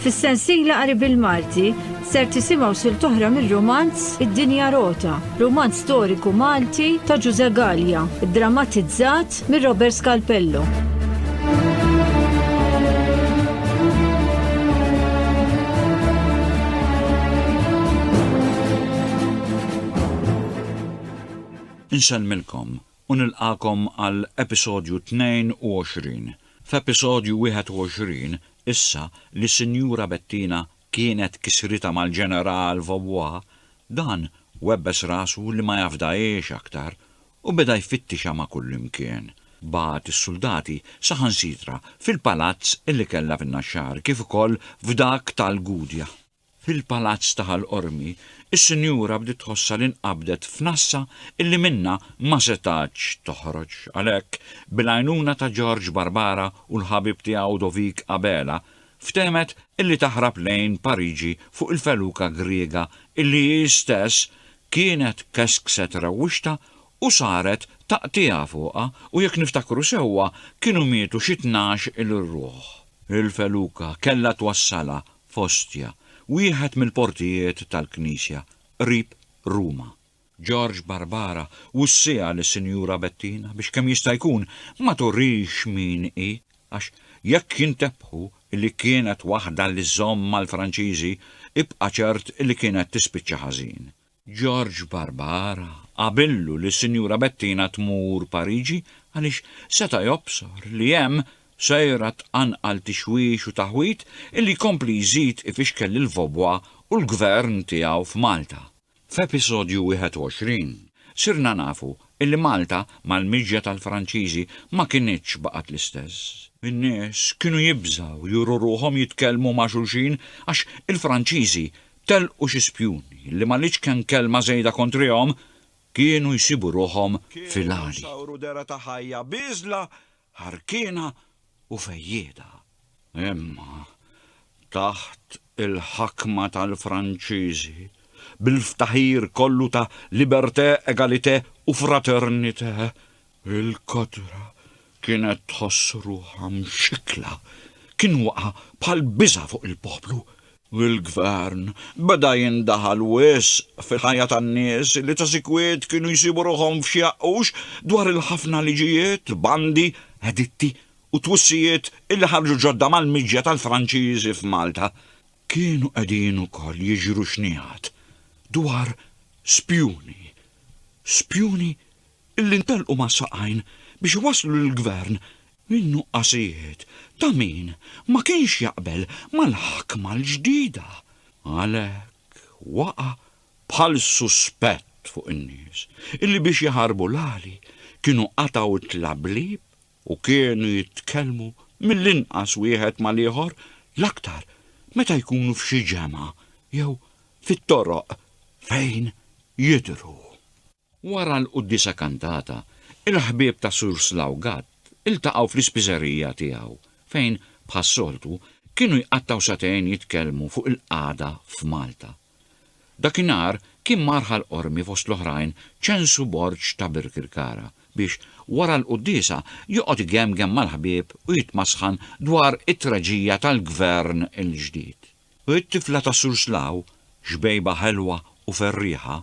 Fis-sensiela qari bil-Malti ser tisimgħu sil toħra mir-romanz Id-Dinja Rota, romanz storiku Malti ta' Ġuże Gallia, drammatizzat mir Robert Scalpello. Insellmilkom u nilqagħkom għal episodju 22. F'episodju 21 issa li Sinjura Bettina kienet kisritha mal-Ġeneral Vaubois, dan webbes rasu li ma jafdahiex aktar u beda jfittixha ma' kullimkien. Bagħat is-suldati saħansitra fil-palazz li kellha fin-Naxxar kif ukoll f'dak tal-Gudja. Fil-palazz ta' Ħal Qormi, is-sinjura bdiet tħossha li nqabdet f'nassa illi minnha ma setgħetx toħroġ. Għalhekk, bil-għajnuna ta' George Barbara u l-ħabib tiegħu Dovik Abela, ftehmet illi taħrab lejn Pariġi fuq il-feluka Griega illi hi stess kienet keskset rewwixtha u saret taqtiegħa fuqha u jekk niftakru sewwa kienu mietu xi tnax-il ruħ. Il-feluka kellha twassalha f'Ostia, wieħed mill-portijiet tal-knisja qrib Ruma. George Barbara wussiha lis-Sinjura Bettina biex kemm jista' jkun ma turix min hi għax jekk jintebħu li kienet waħda li żżomm mal-Franċiżi, ibqa' ċert li kienet tispiċċa ħażin. George Barbara qabillu li s-Sinjura Bettina tmur Pariġi għaliex seta' jobsor li hemm sejra tqanqal tixwix u taħwid illi jkompli jżid ifixkel lil Vaubois u l-Gvern tiegħu f'Malta. F'episodju 21 sirna nafu illi Malta mal-miġja tal-Franċiżi ma kinitx baqgħet l-istess. In-nies kienu jibżgħu juru ruħhom jitkellmu ma' xulxin għax il-Franċiżi Telqu xi spjuni li maliex kemm kelma żejda kontrihom, kienu jsibu ruħhom fil-għali. Kienu sawru dehra ta' ħajja bieżla, ħarkiena u fejjieda. Imma taħt il-ħakma tal-Franċiżi, bil-ftaħir kollu ta' liberté, égalité u fraternité, Il-kotra kienet tħoss ruħha mxikkla. Kien waqa' bħal biża' fuq il-poplu, u l-gvern beda jindaħal wisq fil-ħajja tan-nies li ta' sikwit kienu jsibu ruħhom f'xi għaqqux dwar il-ħafna liġijiet, bandi, editti u twissijiet li ħarġu ġodda mal-miġja tal-Franċiżi f'Malta. Kienu qegħdin ukoll jiġru xnigħat dwar spjuni, spjuni illi ntelqu mas-saqajn biex iwasslu lill-Gvern min-nuqqasijiet ta' min ma kienx jaqbel mal-ħakma l-ġdida. Għalhekk waqa' bħal suspett fuq in-nies illi biex jaħarbu l-għali kienu qatgħu t-tlablieb u kienu jitkellmu mill-inqas wieħed mal-ieħor l-aktar meta jkunu f'xi ġemgħa jew fit-toroq fejn jidhru. Wara l-quddiesa kantata, il-ħbieb ta' Sur Slough Gatt iltaqgħu fl-ispiżerija tiegħu fejn, bħas-soltu, kienu jqattgħu sagħtejn jitkellmu fuq il-qagħda f'Malta. Dakinhar kien mar Ħal Qormi fost l-oħrajn ċensu Borg ta' Birkirkara biex, wara l-quddiesa, joqgħod igemgem mal-ħbieb u jitmasħan dwar it-traġija tal-Gvern il-ġdid. U t-tifla ta' Surslaw, xbejba ħelwa u ferrieħa,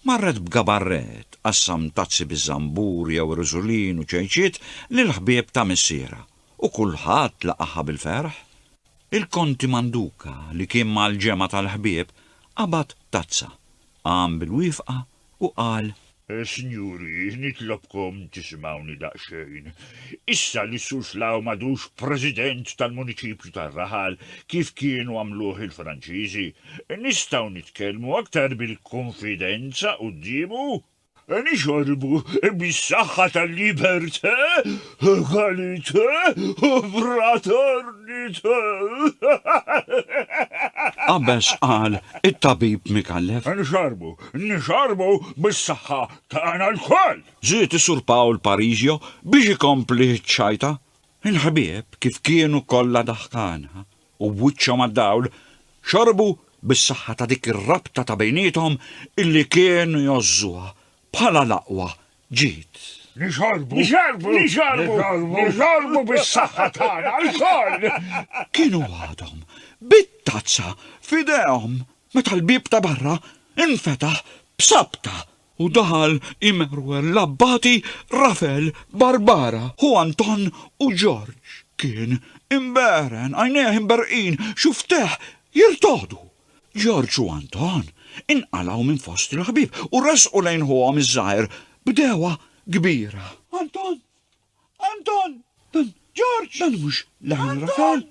marret b'gabarret, tqassam tazzi biż-żambur jew riżulin u ċejċiet lill-ħbieb ta' missierha, u kulħadd laqagħha bil-ferħ. Il-Konti Manduka, li kien mal-ġemgħa tal-ħbieb, qabad tazza, Qam bil-wifqa u qal. Sinjuri, nitlobkom tisimgħuni daqsxejn. Issa li s-Sur Slaw m'għadux President tal-Muniċipju tar-Raħal, kif kienu għamluh il-Franċiżi, nistgħu nitkellmu aktar bil-kunfidenza quddiemu? Nixorbu bis-saħħa tal-libertà, egalità u fraternità. Qabeż qal it-tabib Micallef. Nixorbu, nixorbu bis-saħħa tagħna lkoll! Żied is-Sur Pawl Parisio biex ikompli ċ-ċajta. Il-ħbieb kif kienu kollha daħkana, u b'wiċċhom għad-dawl, xorbu bis-saħħa ta' dik ir-rabta ta' bejniethom illi kienu jgħożżuha bħala l-aqwa ġid. Nixorbu! Nixorbu! Nixorbu! Nixorbu bis-saħħa tagħna lkoll! Kienu għadhom bit-tazza f'idejhom meta l-bieb ta' barra infetaħ b'sabta u daħal Immanuel l-Abbati, Rafel, Barbara, ħu Anton u Ġorġ. Kien imbeeren, għajnejh imberqin, xuftejh jirtogħdu. Ġorġ u Anton inqalgħu minn fost il-ħbieb u resqu lejn ħuhom iż-żgħir b'degħwa kbira. Anton! Anton! Dan. Ġorġ! Dan mhux leħen Rafel!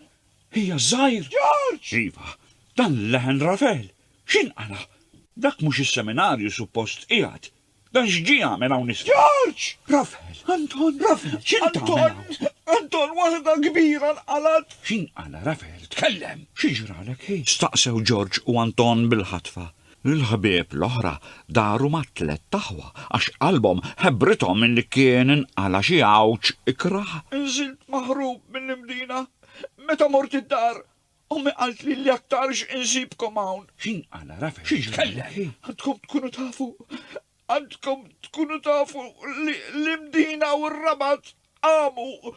Hija ż-żgħir! Ġorġ! Iva, dan leħen Rafel! X'inqala'? Dak mhux is-seminarju suppost qiegħed! Dan x'ġie jagħmel hawn isfel? Ġorġ! Rafel! Anton! Rafel! X'int tagħmel hawn? Anton! Anton, waħda kbira nqalgħet! X'inqala' Rafel? Tkellem! Xi ġralek, hi? Staqsew Ġorġ u Anton bil-ħatfa. Il-ħbieb l-oħra daru mat-tlett aħwa għax qalbhom ħebbrithom milli kien inqala' xi għawġ ikrah. Inżilt maħrub mill-Imdina. Meta mort id-dar, ommi qaltli li aktarx insibkom hawn. X'inqala' Rafael? Xi jitkellem? Għandkom tkunu tafu, għandkom tkunu tafu li l-Imdina u r-Rabat qamu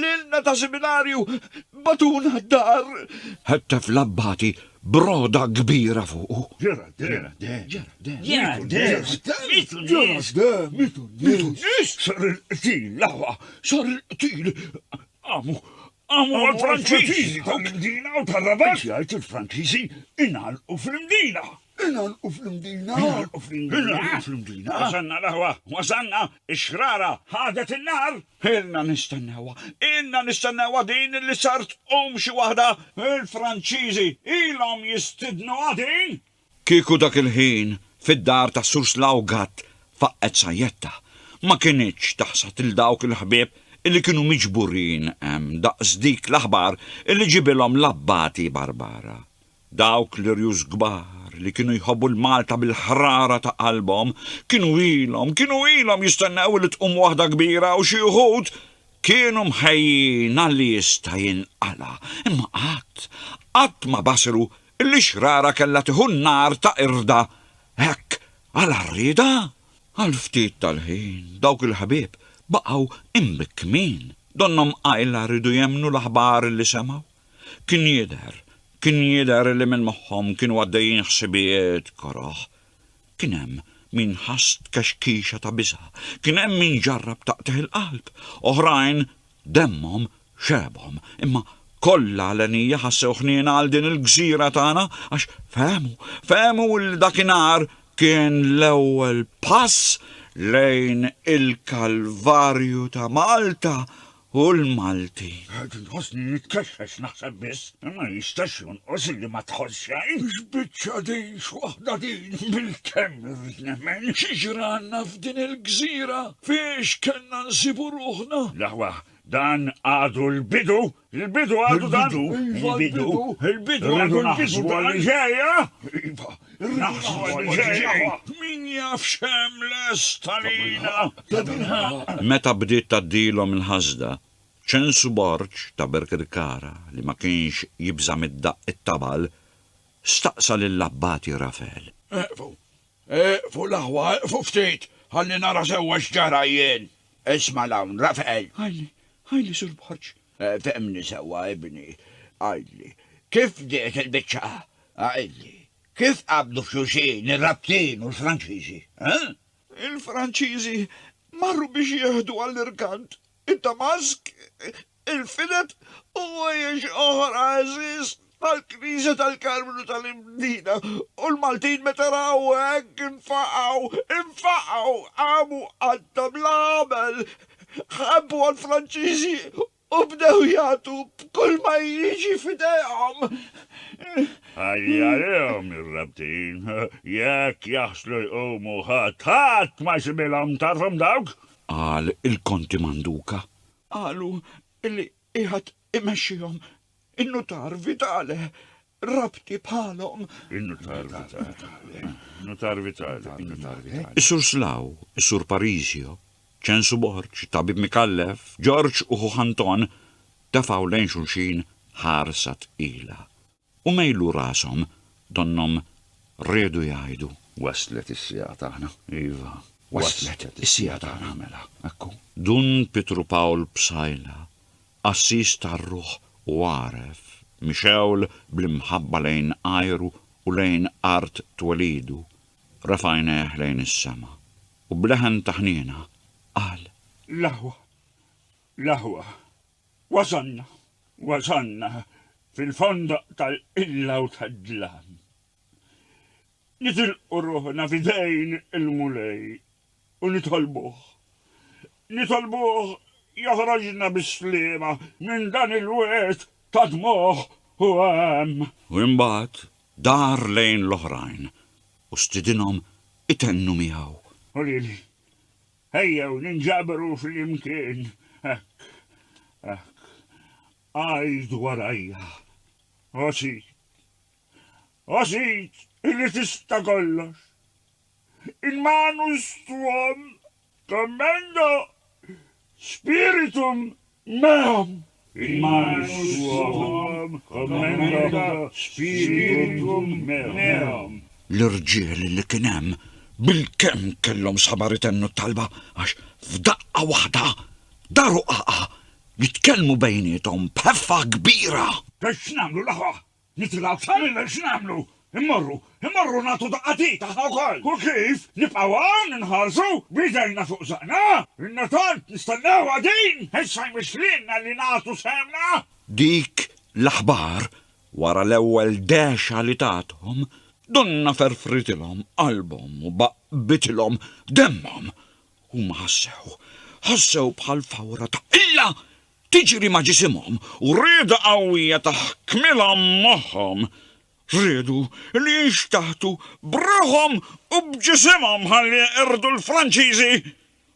Lilna ta' siminarju batuna d-dar! Ħettef l-abbati broda kbira fuqu. Ġera dem! Ġera dem! Ġera dem! Mitu nies! Mitu nies! Sar il-qtil, l-aħwa! Sar il-qtil! Għamu! Għamu għal-Franċiżi! Dawk il-Mdina u tal-Rabat! Jgħid il-Franċiżi inħalqu fil-Mdina! Inalqu fl-Imdina! Inalqu fl-Imdina! Inalqu fl-Imdina! Wasanna l-aħwa! Wasanna! Ix-xrara ħadet in-nar! Ilna nistennewha! Ilna nistennewha din li sar tqum xi waħda! Il-Franċiżi ilhom jistidnuha din! Kieku dak il-ħin fid-dar tas-Sur Slawgat faqqgħet sajjetta, ma kinitx taħsad 'l dawk il-ħbieb illi kienu miġburin hemm daqs dik l-aħbar illi ġibilhom l-Abbati Barbara. Dawk l-irjus kbar li kienu jħobbu l-Malta bil-ħrara ta' qalbhom, kienu ilhom, kienu ilhom jistennew li tqum waħda kbira u xi wħud kienu mħejjin għalli jista' jinqala', imma qatt, qatt ma basru illi x-xrara kellha tieħu n-nar ta' qirda hekk għala rriedha. Għal ftit tal-ħin dawk il-ħbieb baqgħu imbikkmin, donnhom qajla riedu jemmnu l-aħbar illi semgħu. Kien jidher, kien jidher li minn moħħhom kienu għaddejjin ħsibijiet koroh. Kien hemm min ħass tkexkixa ta' biża', kien hemm min ġarrab taqtigħ il-qalb, oħrajn demmhom xebhom, imma kollha għalenija ħassew ħniena għal din il-gżira tagħna għax fehmu, fehmu li dakinhar kien l-ewwel pass lejn il-Kalvarju ta' Malta u l-Malti. Għad nħossni nitkexxex naħseb biss, ma jistax jonqos li ma tħoss xejn. X'biċċa din x'waħda din bil-kemm irrid nemmen x'ġranna f'din il-gżira fiex kellna nsibu ruħna. L-aħwa dan għadu l-bidu, l-bidu għadu dan. Il-bidu, il-bidu għadu l-bidu dan. Ġejja! Iva, Naħsbu għall-ġej. Min jaf x'hemm lest għalina. Tabilħaqq. Meta bdiet tgħaddilhom il-ħasda, Ċensu Borg ta' Birkirkara, li ma kienx jibża' mid-daqq it-tabal, staqsa lill-Abbati Rafel. Eqfu. Eqfu l-aħwa, eqfu ftit, ħalli nara sewwa x'ġara jien. Isma' 'l hawn, Rafel. Ħajli, ħajli, Sur Borg. Fehmni sewwa, ibni, għidli. Kif bdiet il-biċċa? Għidli. Kif qabdu f'xulxin ir-Rabtin u l-Franċiżi? Eħ? Il-Franċiżi marru biex jieħdu għall-irkant id-Damask, il-Filet u ħwejjeġ oħra għeżież. tal-Knisja tal-Karmnu tal-Imdina, u l-Maltin meta raw hekk infaqgħu, infaqgħu, qamu qatta bla għamel, ħebbu għall-Franċiżi u bdew jagħtu b'kull ma jiġi f'idejhom. Ħalli għalihom ir-rebtin, jekk jaħslu jqumu ħadd, ħadd ma jsibhilhom, tagħrfhom dawk? Qal il-Konti Manduca. Qalu li qiegħed Imexxihom in-nutar vitale, rabti bħalhom. In-nutar vitale. Nutar vitale. In-nutar vitale. Is-sur Slaw, is-sur Parisio, ċensu Borġ, tabib mikallef, Ġorġ u ħuh Anton tefgħu lejn xulxin ħarsa tqila. U mejlu rashom, donnhom riedu jgħidu. Waslet is-siegħa tagħna, iva, waslet is-siegħa tagħna, mela, ekku. Dun Pietru Pawl Psaila, qassis tar-ruħ u għaref, mixewl bl-imħabba lejn għajru u lejn art twelidu, refa' għajnejh lejn is-sema, u b'leħen ta' ħniena, qal. L-aħwa, l-aħwa. Wasalna, wasalna fil-fondoq tal-qilla u tad-dlam. Nitilqu ruħna f'idejn il-Mulej u nitolbuh. Nitolbuh joħroġna bis-sliema minn dan il-wirt ta' dmugħ u għam. U imbagħad dar lejn l-oħrajn u stidinhom itennu miegħu. U lili, Ejjew ninġabru flimkien, hekk, hekk, għid warajja, O Sid, O Sid, li tista' kollox, in manus tuam commendo, spiritum Magħhom. Imma nixtuhom, kommenta Spiritum meum. L-irġiel li kien hemm bilkemm kellhom sabar itennu t-talba għax f'daqqa waħda daru qaqa' jitkellmu bejniethom b'ħeffa kbira. Ta' x'nagħmlu l-aħwa Nitilgħu aktar minn x'nagħmlu! Immorru, immorru nagħtu daqqa t'id aħna wkoll! U kif? Nibqgħu hawn inħarsu b'idejna fuq żaqna? Ilna tant nistennewha din! Issa jmiss lilna li nagħtu sehemna! Dik l-aħbar, wara l-ewwel dehxa li tathom, donnha ferfritilhom qalbhom u baqqbitilhom demmhom. Huma ħassew, ħassew bħal fawra ta' qilla tiġri ma' ġisimhom u rieda qawwija ta' ħkmilhom moħħhom. Riedu li jinxtaħtu b'ruħhom u b'ġisimhom ħalli jeqirdu l-Franċiżi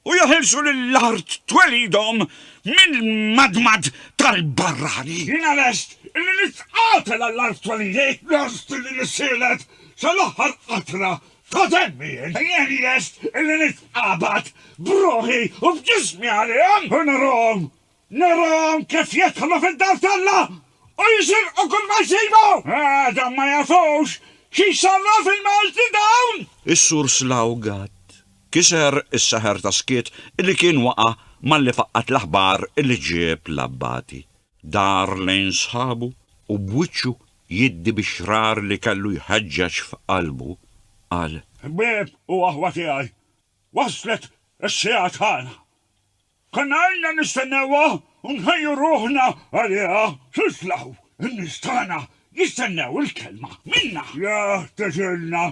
u jeħilsu lil art twelidhom mill-madmad tal-barrani. Jiena lest li nitqatel għall-art twelidi. Lest li nissielet sal-aħħar qatra Kuntent b'jien, jien lest illi nitqabad b'ruħi u b'ġismi għalihom u narahom, narahom kif jidħlu fid-dar t'Alla u jisirqu kull ma jsibu! Għadhom ma jafux xi jsarraf fil-Malti dawn! Is-Sur Slough Gatt kiser is-seħer ta' skiet illi kien waqa' malli faqqgħet l-aħbar illi ġieb l-Abbati. Dar lejn sħabu u b'wiċċu jiddi bix-xrar li kellu jħeġġeġ f'qalbu, qal. Ħbieb u aħwa tiegħi, waslet is-siegħa tagħna. Konna ilna nistennewha u nħejju ruħna għaliha. Titlgħu, in-nies tagħna jistennew il-kelma minna. Jeħtieġilna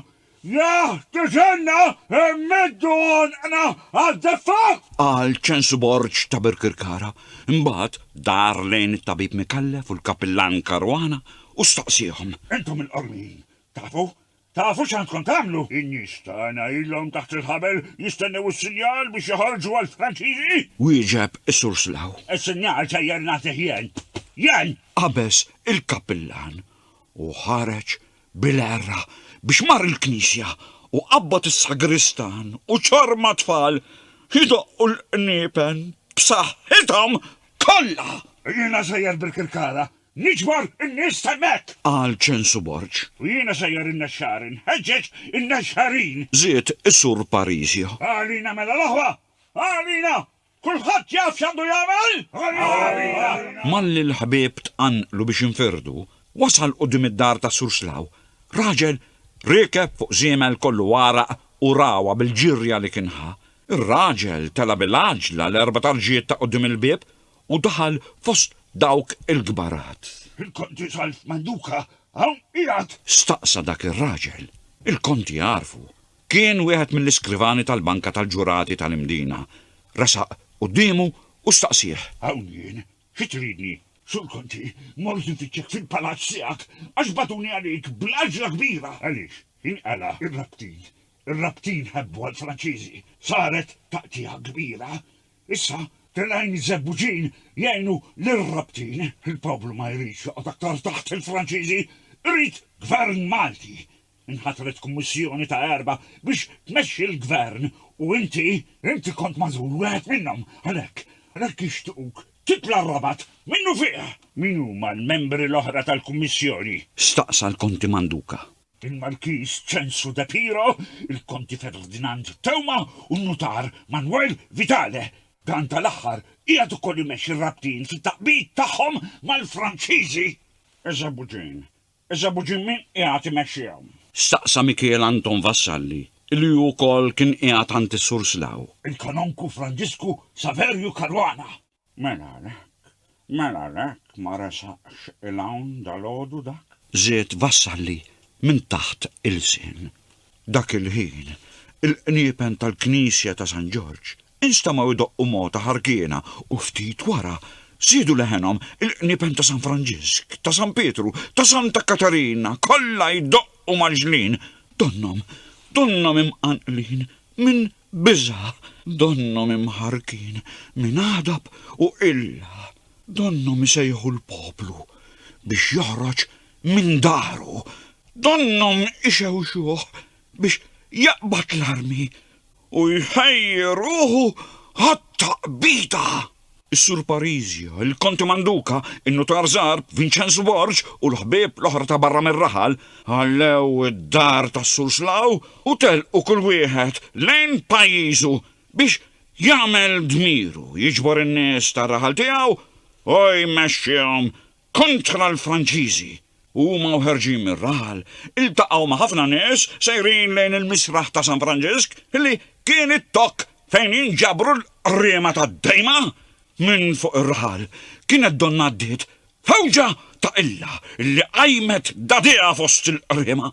Jah, tiġenna, immiddu għonqna għaz-zeffa! Qal Ċensu Borg ta' Birkirkara. Imbagħad dar lejn it-Tabib Micallef u l-Kapillan Caruana u staqsiehom. Intom il-qormijin, tafu? Tafu x'għandkom tagħmlu? In-nies tagħna ilhom taħt il-ħabel jistennew is-sinjal biex joħorġu għall-Franċiżi! Wieġeb is-Sur Slaw. Is-sinjal sejjer nagħtih jien! Jien! Qabeż il-Kapillan u ħareġ bil-għerra biex mar il-knisja u qabbad is-sagristan u ċorma tfal jdoqqu l-qniepen b'saħħithom kollha! Jiena sejjer bil-kirkara niġbor in-nies t'hemmhekk! Qal Ċensu Borg. U jiena sejjer in-Nexxar inħeġġeġ in-Nexxarin! Żied is-Sur Parisio. Għalina mela l-aħwa! Għalina! Kulħadd jaf x'għandu jagħmel? Arija! Malli l-ħbieb tqanqlu biex infirdu, wasal quddiem id-dar ta' Sur Slaw raġel riekeb fuq żiemel kollu għaraq u ragħwa bil-ġirja li kien ħa. Ir-raġel tela' bil-għaġla l-erba' tarġijiet ta' quddiem il-bieb u daħal fost dawk il-kbarat. Il-Konti Zalf Manduka hawn qiegħed? Staqsa dak ir-raġel. Il-Konti għarfu. Kien wieħed mill-iskrivani tal-banka tal-ġurati tal-Imdina. Resaq quddiemu u staqsieh. Hawn jien. Xi tridni? Sur Conti, mort infittxek fil-palazz tiegħek għax bagħtuni għalik bl-għaġla kbira! Għaliex? Inqala' r-rabtin. Ir-rabtin ħebbu għall-Franċiżi. Saret taqtigħa kbira. Issa, telgħin iż-żebbuġin jgħinu lir-rabtin. Il-poplu ma jridx joqgħod aktar taħt il-Franċiżi. Irid Gvern Malti. Inħatret kummissjoni ta' erbgħa biex tmexxi l-gvern u inti, inti kont magħżul wieħed minnhom. Għalhekk, għalhekk jixtiquk titla' r-Rabat minnufih! Min huma l-membri l-oħra tal-kummissjoni? Staqsa l-Konti Manduca. Il-Markiż Ċensu De Piro, il-Konti Ferdinand Theuma u n-Nutar Manuel Vitale. Dan tal-aħħar qiegħed ukoll imexxi r-rabtin fit-taqbid tagħhom mal-Franċiżi. Eżabu din, Iżda Abu Ġimmi qiegħed imexxihom. Staqsa Mikiel Anton Vassalli li hu wkoll kien qiegħed għand is-Sur Slaw. Il-Kanonku Franġisku Saverju Caruana. Mela għalhekk, mela għalhekk ma resaqx 'il hawn dalgħodu dak? Żied Vassalli minn taħt ilsien. Dak il-ħin, il-qniepen tal-Knisja ta' San Ġorġ Instamaw idoqqu mogħta ħarkiena u ftit wara żiedu leħenhom il-qniepen ta' San Franġisk, ta' San Pietru, ta' Santa Katarina, kollha jdoqqu mgħaġġlin, donnhom, donnhom imqanqlin minn biża', donnhom imħarrkin minn għadab u qilla, donnhom isejħu l-poplu biex joħroġ minn daru, donnhom ixewxuh biex jaqbad l-armi u jħejji ruħu għat-taqbida. Is-Sur Parisio, il-Konti Manduca, in-Nutar Żgħar, Vinċenz Borg u l-ħbieb l-oħra ta' barra mir-raħal ħallew id-dar tas-Sur Slaw u telqu kull wieħed lejn pajjiżu biex jagħmel dmiru jiġbor in-nies tar-raħal tiegħu u jmexxihom kontra l-Franċiżi u huma u ħerġin mir-raħal iltaqgħu ma' ħafna nies sejrin lejn il-misraħ ta' San Franġisk li kien it-tokk fejn jinġabru l-qriema tad-dejma minn fuq ir-raħal. Kienet donnha għaddiet f'għewġa ta' qilla li qajmet dagħdiha fost il-qriema.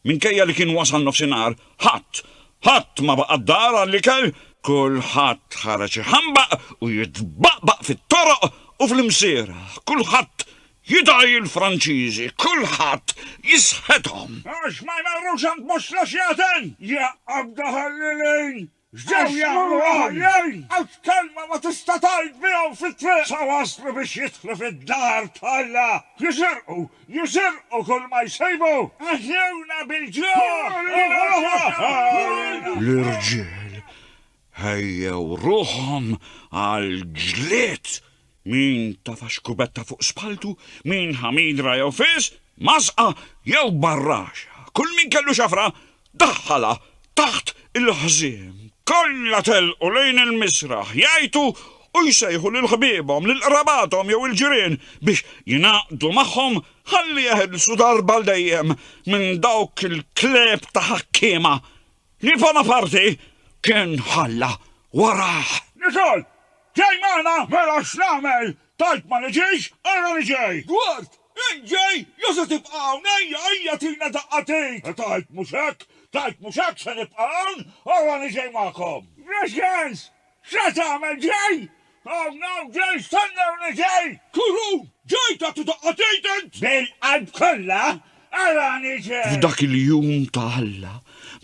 Minkejja li kien wasal nofsinhar, ħadd, ħadd ma baqa' d-dar għall-ikel, kulħadd ħareġ iħambaq u jitbaqbaq fit-toroq u fl-imsierħ, kulħadd jidgħi l-Franċiżi, kulħadd jisħethom. Għax ma jmorrux għand Musla x'jagħten, jaqgħod daħal lil Ejn, X'ġew jagħmlu l-għoljin? Għax kelma ma tista' tgħid bihom fit-triq sa waslu biex jidħlu fid-dar t'Alla. Jisirqu, jisirqu kull ma jsibu. Aħjewna bil-ġuħ! L-irġiel ħejjew ruħhom għall-ġlied. Min tafa xkubetta fuq spaltu, min ħamidra jew fis, masqa jew barraxa, kull min kellu xafra daħħalha taħt il-ħżiem. Kollha telqu lejn il-misraħ jgħajtu u jsejħu lil ħbiebhom, lil qrabathom jew il-ġirien biex jingħaqdu magħhom ħalli jeħilsu darba għal dejjem minn dawk il-klieb ta' ħakkiema li Bonaparti kien ħalla warah. Nicole! Ġej magħna, mela x'nagħmel? Tajt ma niġix, ara li ġej! Dwart, Int ġej, jew se tibqa' hawn? Ejja, ejja tina daqqa t'id! Tajt mhux hekk, tajt mhux hekk, se nibqa' hawn, ara li ġej magħkom! Gracians, x'se tagħmel? Ġej! Hawn, hawn ġej, stennew li ġej! Kurun, Ġej tagħti daqqa t'id int? Bil-qalb kollha, ara li ġej! F'dak il-jum ta' Alla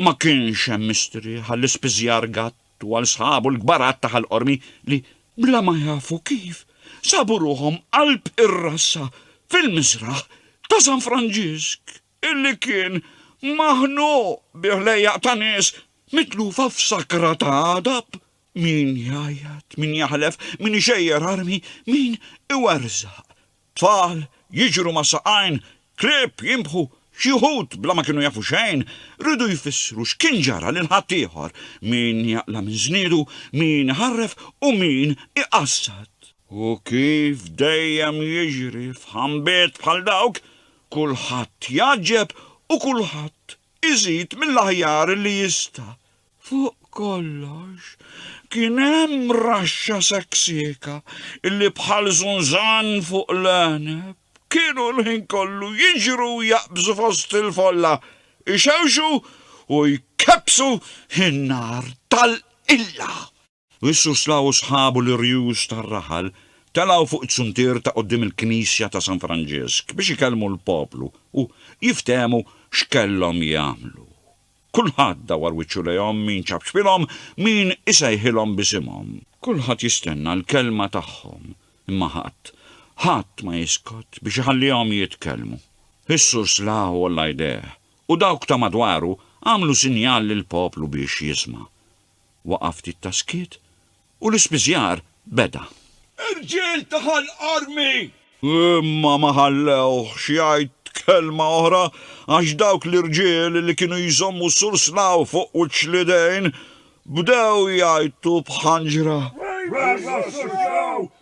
ma kienx hemm mistrieħ għall-ispiżjar gatt. Twal sħabu l-kbarat ta' Ħal Qormi li, bla ma jafu kif, sabu ruħhom qalb ir-rassa fil-miżraħ ta' San Franġisk illi kien maħnuq bi ħlejjaq ta' nies mitlufa f'sakra ta' għadab, min jgħajjat, min jaħlef, min ixejjer armi, min iwerżaq Tfal jiġru ma' saqajn, klieb jinbħu, xi wħud bla ma kienu jafu xejn, riedu jfissru x'kien ġara lil ħaddieħor, min jaqla' minn żniedu, min iħarref u min iqassad. U kif dejjem jiġri f'ħambiet bħal dawk, kulħadd jgħaġġeb u kulħadd iżid mill-aħjar li jista'. Fuq kollox, kien hemm raxxa seksieka illi bħal żunżan fuq l-għeneb kienu l-ħin kollu jiġru u jaqbżu fost il-folla, ixewxu u jkebbsu n-nar tal-qilla. u s-Suslaw u sħabu l-irjus tar-raħal telgħu fuq it-suntier ta' quddiem il-knisja ta' San Franġisk biex ikellmu l-poplu u jiftehmu x'kellhom jagħmlu. Kulħadd dawwar wiċċu lejhom min ċab xbinhom, min isejħilhom b'isimhom. Kulħadd jistenna l-kelma tagħhom, imma ħadd, ħadd ma jiskot biex iħallihom jitkellmu. Is-Suslaw għolla jdejh u dawk ta' madwaru għamlu sinjal lill-poplu biex jisma'. Waqa' ftit ta' skiet u l-ispiżjar beda. Irġiel ta' Ħal Qarmi! Imma ma ħallewhx jgħid kelma oħra għax dawk l-irġiel li kienu jżommu Sur Slaw fuq wiċċ l-idejn bdew jgħajtu b'ħanġra. Ħajja Sur Slaw!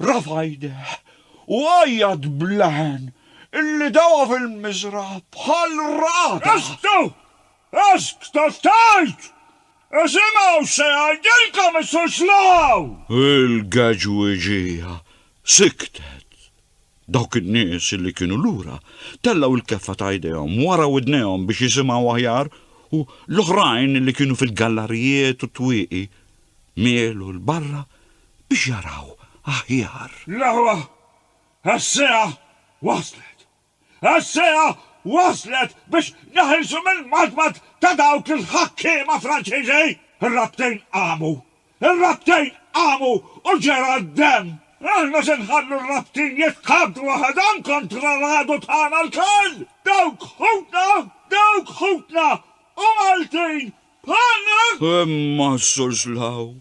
Rafa' jdejh u għajjat bl-għen illi dawa fil-miżra' bħal ragħad. Eżgtu! Eżg ta' x'tgħid! Isimgħu x'se jgħidilkom is-Surslaw! Il-geġwiġija siktet. Dawk in-nies illi kienu lura tellgħu l-keffa ta' jdejhom wara widnejhom biex jisimgħu aħjar u l-oħrajn illi kienu fil-gallarijiet u t-twieqi mielu 'l barra biex jaraw aħjar. L-aħwa għas-siegħa waslet! Għas-siegħa waslet biex neħilsu mill-madmad ta' dawk il-ħakkiema Franċiżi! Ir-rabtejn qamu! Ir-rabtejn qamu u ġera d-demm! Aħna se nħallu r-rabtin jitħabbtu waħedhom kontra l-għadu tagħna lkoll! Dawk ħutna! Dawk ħutna! U Maltin! Bħalna! Imma s-Sur Slaw.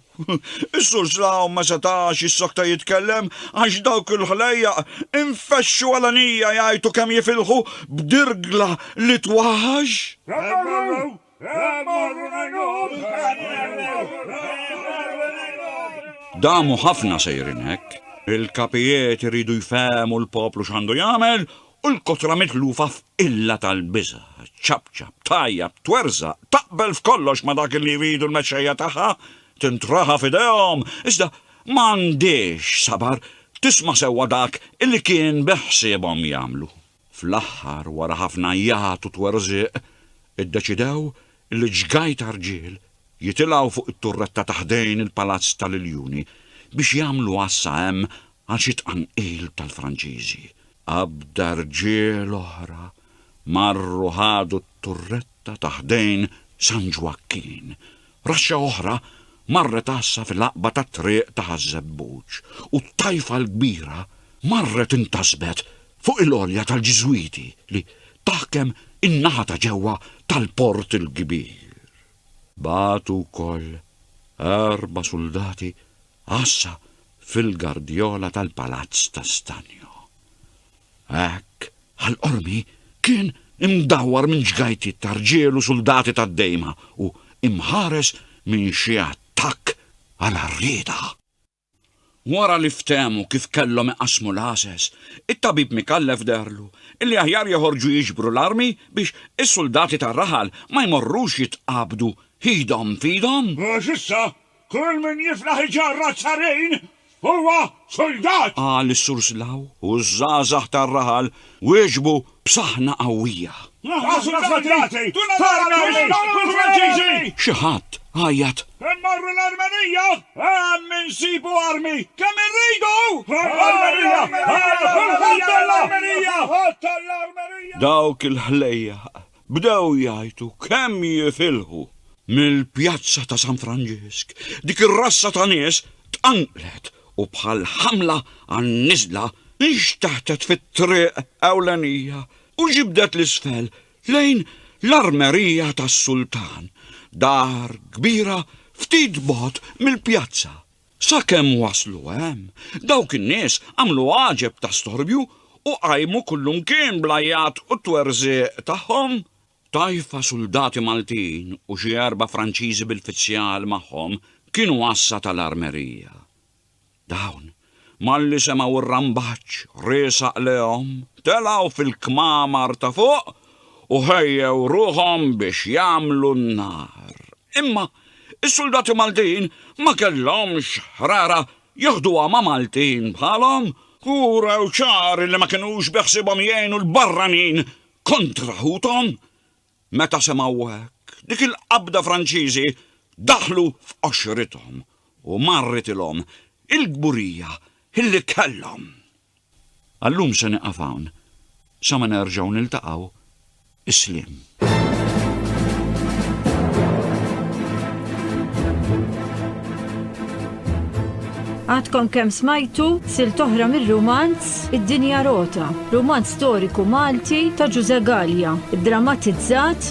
Is-Sur Slaw ma setax jissokta jitkellem għax dawk il-ħlejjaq infexxu għalanija jgħajtu kemm jifilħu b'dirgla li twaħax. Damu ħafna sejrin hekk. Il-kapijiet iridu jfehmu l-poplu x'għandu jagħmel u l-kotra mitlufa f'qilla tal-biża', ċċapċap, tgħajjat, twerżaq, taqbel f'kollox ma' dak li jridu l-mexxejja tagħha, tintraħa f'idejhom, iżda ma għandhiex sabar tisma' sewwa dak li kien beħsiebhom jagħmlu. Fl-aħħar, wara ħafna għajjat u twerżiq, iddeċidew li ġgaj ta' rġiel jitilgħu fuq it-turretta ta' ħdejn il-Palazz tal-Iljuni biex jagħmlu għassa hemm Għal xi tqanqil tal-Franċiżi, qabda rġiel oħra marru ħadu t-turretta ta' ħdejn San Ġwakkin. Raxxa oħra marret għassa fil-għaqba tat-triq ta' Ħaż-Żebbuġ u t-tajfa l-kbira marret intasbet fuq il-għolja tal-Ġiżwiti li taħkem in-naħa ta' ġewwa tal-Port il-Kbir. Bagħtu wkoll erba' suldati Għassa fil-gardjola tal-palazz ta' stanjo. Hekk, għall-qormi, kien imdawwar minn ġgajtiet ta' rġiel u suldati tad-dejma u imħares minn xi attakk għal għarrieda. Wara li ftehmu kif kellhom iqassmu l-għases, it-tabib Micallef deherlu illi aħjar joħorġu jiġbru l-armi biex is-suldati tar-raħal ma jmorrux jitqabdu idhom f'idhom. Għax issa Kull min jiflaħ iġarrad sarin huwa suldat! Qal is-Sur Slaw u ż-żgħażagħ tar-raħal wieġbu b'saħna qawwija. Aħna suldati! Torna lil Franċiżi! Xi ħadd għajjat. Immorru l-Armenija! Hemm insibu armi kemm irridu! Għall-Armenija! Għall-Armenija! Għall-Armenija! Dawk il-ħlejjaq bdew jgħajtu kemm jifilħu. Mill-pjazza ta' San Franġisk, dik ir-rassa ta' nies tqanqlet u bħal ħamla għan-niżla nxteħtet fit-triq ewlenija u ġibdet 'l isfel lejn l-armerija tas-sultan, dar kbira ftit bogħod mill-pjazza. Sakemm waslu hemm, dawk in-nies għamlu għaġeb ta' storbju u qajmu kullumkien bl-għajjat u t-twerżiq tagħhom. Tajfa suldati Maltin u xi erba' Franċiżi bil-fizzjal magħhom kienu għassa tal-armerija. Dawn, malli semgħu r-rambaġġ riesaq lehom, telgħu fil-kmamar ta' fuq u ħejjew ruħhom biex jagħmlu n-nar. Imma s-suldati Maltin ma kellhomx ħrara jaħduha ma' Maltin bħalhom u wrew ċar li ma kinux beħsiebhom jgħinu l-barranin kontra ħuthom. Meta semgħu hekk, dik il-qabda Franċiżi daħlu f'qoxrithom u marritilhom il-kburija li kellhom. Għal-lum se nieqaf hawn, sa ma nerġgħu niltaqgħu, isliem. Għadkom kemm smajtu sil toħra mir-rumanz Id-Dinja Rota, rumanz storiku Malti ta' Ġuże Gallia, drammatizzat